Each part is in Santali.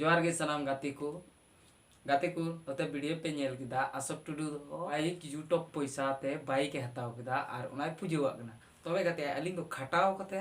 ᱡᱚᱦᱟᱨ ᱜᱮ ᱥᱟᱱᱟᱢ ᱜᱟᱛᱮ ᱠᱚ ᱜᱟᱛᱮ ᱠᱚ ᱱᱚᱛᱮ ᱵᱷᱤᱰᱤᱭᱳ ᱯᱮ ᱧᱮᱞ ᱠᱮᱫᱟ ᱟᱥᱚᱠ ᱴᱩᱰᱩ ᱫᱚ ᱟᱡ ᱤᱭᱩᱴᱩᱵᱽ ᱯᱚᱭᱥᱟ ᱛᱮ ᱵᱟᱭᱤᱠ ᱮ ᱦᱟᱛᱟᱣ ᱠᱮᱫᱟ ᱟᱨ ᱚᱱᱟᱭ ᱯᱩᱡᱟᱹᱣᱟᱜ ᱠᱟᱱᱟ ᱛᱚᱵᱮ ᱜᱟᱛᱮ ᱟᱹᱞᱤᱧ ᱫᱚ ᱠᱷᱟᱴᱟᱣ ᱠᱟᱛᱮ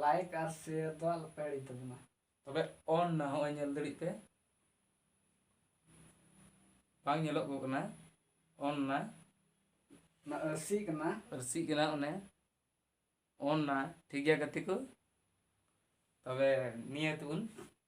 ᱞᱟᱭᱤᱠ ᱟᱨ ᱥᱮᱭᱟᱨ ᱫᱚ ᱟᱞᱚᱯᱮ ᱦᱤᱲᱤᱧ ᱛᱟᱵᱚᱱᱟ ᱛᱚᱵᱮ ᱚᱱ ᱱᱟ ᱦᱚᱸᱜᱼᱚᱭ ᱧᱮᱞ ᱫᱟᱲᱮᱜ ᱯᱮ ᱵᱟᱝ ᱧᱮᱞᱚᱜ ᱠᱚ ᱠᱟᱱᱟ ᱚᱱ ᱱᱟ ᱚᱱᱟ ᱟᱹᱨᱥᱤ ᱠᱟᱱᱟ ᱟᱹᱨᱥᱤᱜ ᱠᱟᱱᱟ ᱚᱱᱮ ᱚᱱ ᱱᱟ ᱴᱷᱤᱠ ᱜᱮᱭᱟ ᱜᱟᱛᱮ ᱠᱚ ᱛᱚᱵᱮ ᱱᱤᱭᱟᱹ ᱛᱮᱵᱚᱱ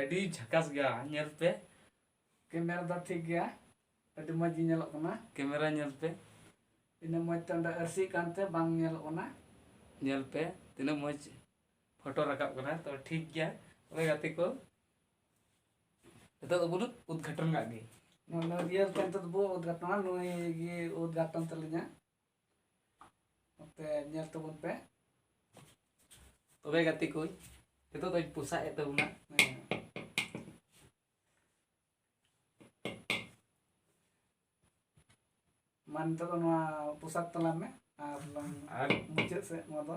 ᱟᱹᱰᱤ ᱡᱷᱟᱠᱟᱥ ᱜᱮᱭᱟ ᱧᱮᱞ ᱯᱮ ᱠᱮᱢᱮᱨᱟ ᱫᱚ ᱴᱷᱤᱠ ᱜᱮᱭᱟ ᱟᱹᱰᱤ ᱢᱚᱡᱽ ᱜᱮ ᱧᱮᱞᱚᱜ ᱠᱟᱱᱟ ᱠᱮᱢᱮᱨᱟ ᱧᱮᱞ ᱯᱮ ᱤᱱᱟᱹ ᱢᱚᱡᱽ ᱛᱮ ᱚᱸᱰᱮ ᱟᱹᱨᱥᱤᱜ ᱠᱟᱱᱛᱮ ᱵᱟᱝ ᱧᱮᱞᱚᱜ ᱠᱟᱱᱟ ᱧᱮᱞ ᱯᱮ ᱛᱤᱱᱟᱹᱜ ᱢᱚᱡᱽ ᱯᱷᱳᱴᱳ ᱨᱟᱠᱟᱵ ᱠᱟᱱᱟ ᱛᱚ ᱴᱷᱤᱠ ᱜᱮᱭᱟ ᱛᱚᱵᱮ ᱜᱟᱛᱮ ᱠᱚ ᱱᱤᱛᱚᱜ ᱫᱚᱵᱚᱱ ᱩᱫᱽᱜᱷᱟᱴᱚᱱ ᱠᱟᱜ ᱜᱮ ᱱᱚᱣᱟ ᱨᱤᱭᱮᱞ ᱛᱮ ᱱᱤᱛᱚᱜ ᱫᱚᱵᱚᱱ ᱩᱫᱽᱜᱷᱟᱴᱚᱱᱟ ᱱᱩᱭ ᱜᱮ ᱩᱫᱽᱜᱷᱟᱴᱚᱱ ᱛᱟᱹᱞᱤᱧᱟ ᱱᱚᱛᱮ ᱧᱮᱞ ᱛᱟᱵᱚᱱ ᱯᱮ ᱛᱚᱵᱮ ᱜᱟᱛᱮ ᱠᱚ ᱱᱤᱛᱚᱜ ᱫᱚᱧ ᱯᱚᱥᱟᱜ ᱮᱫ ᱛᱟᱵᱚᱱᱟ ᱢᱟ ᱱᱤᱛᱚᱜ ᱫᱚ ᱱᱚᱣᱟ ᱯᱚᱥᱟᱜ ᱛᱟᱞᱟᱝ ᱢᱮ ᱟᱨ ᱞᱟᱝ ᱟᱨ ᱢᱩᱪᱟᱹᱫ ᱥᱮᱫ ᱱᱚᱣᱟ ᱫᱚ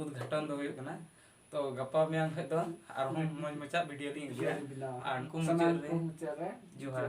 ᱩᱫᱽᱜᱷᱟᱴᱚᱱ ᱫᱚ ᱦᱩᱭᱩᱜ ᱠᱟᱱᱟ ᱛᱚ ᱜᱟᱯᱟ ᱢᱮᱭᱟᱝ ᱠᱷᱚᱡ ᱫᱚ ᱟᱨᱦᱚᱸ ᱢᱚᱡᱽ ᱢᱚᱡᱽᱟᱜ ᱵᱷᱤᱰᱤᱭᱳ ᱞᱤᱧ ᱟᱹᱜᱩᱭᱟ ᱟᱨ ᱩᱱᱠᱩ ᱢᱩᱪᱟᱹᱫ ᱨᱮ ᱡᱚᱦᱟᱨ